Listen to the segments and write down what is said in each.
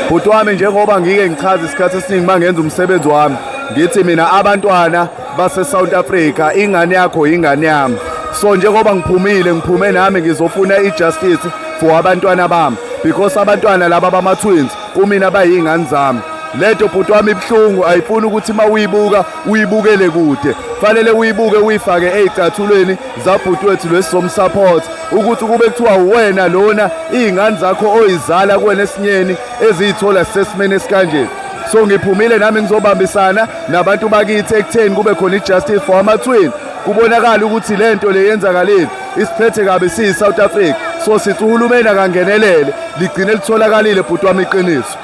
bhuti wami njengoba ngike ngichaza isikhathi esiningi mangenza umsebenzi wami ngithi mina abantwana base South Africa ingane yakho ingane yami so njengoba ngiphumile ngiphume nami ngizofuna ijustice for abantwana bami because abantwana laba bama twins kumina bayingane zami lento bhuti wami ibuhlungu ayifuni ukuthi uma uyibuka uyibukele kude fanele uyibuke uyifake ezicathulweni zabhuti wethu lesi somsupport ukuthi kube kuthiwa uwena lona iy'ngane zakho oyizala kuwena esinyeni eziyithola sisesimeni esikanje so ngiphumile nami ngizobambisana nabantu bakithi ekutheni kube khona i-justice for amatwin kubonakala ukuthi le nto le yenzakalile isiphethe kabi siyi-south africa so sithi uhulumeni akangenelele ligcine litholakalile bhuti wami iqiniso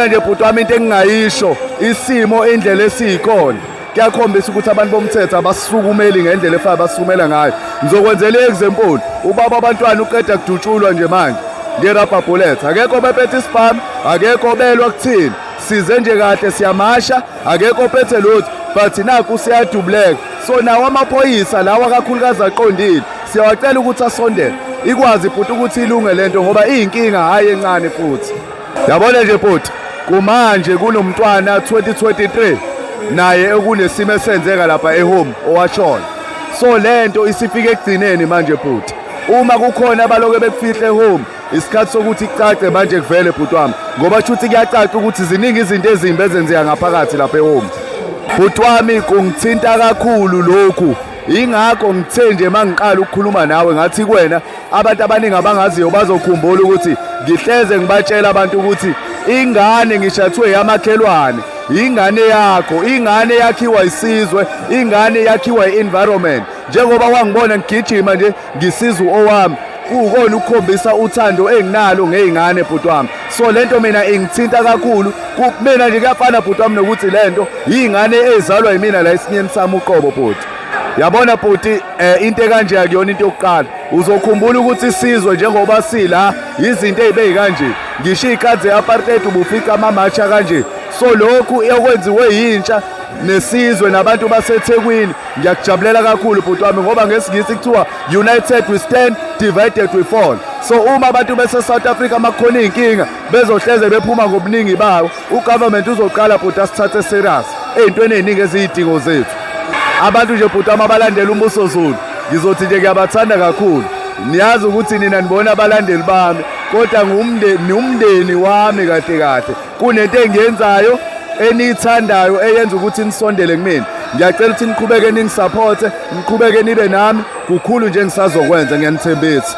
nje bhuti wami into engingayisho isimo indlela esiyikhona kuyakhombisa ukuthi abantu bomthetho abasukumeli ngendlela efana abasukumela ngayo ngizokwenzela i-example ubaba abantwana uqeda kudutshulwa nje manje ngerabha bullet akekho obephethe isibhamu akekho obelwa kuthini size nje kahle siyamasha akekho ophethe lutho but naku siyadubuleka so nawo amaphoyisa lawa kakhulukazi aqondile siyawacela ukuthi asondele ikwazi futhi ukuthi ilunge lento ngoba iyinkinga hhayi encane futhi Yabona nje bhuti kumanje kunomntwana 2023 naye okunesimo esenzeka lapha ehome owashona so lento isifike ekugcineni manje bhuti uma kukhona abaloke bekufihle home isikhathi sokuthi kucace manje kuvele bhuti wami ngoba shuthi kuyacaca ukuthi ziningi izinto ezimbi ezenzeka ngaphakathi lapha ehome bhuti wami kungithinta kakhulu lokhu ingakho ngithe nje mangiqala ukukhuluma nawe ngathi kuwena Abantu abaningi abangaziyo bazokhumbula ukuthi ngihleze ngibatshela abantu ukuthi ingane ngishathwe yamakhelwane ingane yakho ingane yakhiwa isizwe ingane yakhiwa i-environment njengoba wangibona ngigijima nje ngisiza owami kuwukona ukukhombisa uthando enginalo ngey'ngane bhuti wami so le nto mina ingithinta kakhulu kumina nje kuyafana bhuti wami nokuthi le nto yiy'ngane ezalwa yimina la esinyeni sami uqobo bhuti yabona bhuti eh into ekanje akuyona into yokuqala uzokhumbula ukuthi isizwe njengoba sila izinto ezibeyi kanje ngisho ikadze yapartheid ubufica amamacha kanje so lokhu ekwenziwe yintsha nesizwe nabantu basethekwini ngiyakujabulela kakhulu bhuti wami ngoba ngesingisi kuthiwa united we stand divided we fall so uma abantu bese-south africa makukhona iy'nkinga bezohleze bephuma ngobuningi bawo ugovernment uzoqala bhuti asithathe serious ey'ntweni ey'ningi eziyidingo zethu abantu nje bhuti ama balandela umbuso zulu ngizothi nje ngiyabathanda kakhulu niyazi ukuthi nina nibona abalandeli bami kodwa ngiwumndeni wami kahle kahle kunento engiyenzayo eniyithandayo eyenza ukuthi nisondele kumina ngiyacela ukuthi niqhubeke ningisaphothe niqhubeke nibe nami kukhulu nje ngisazokwenza ngiyanithembisa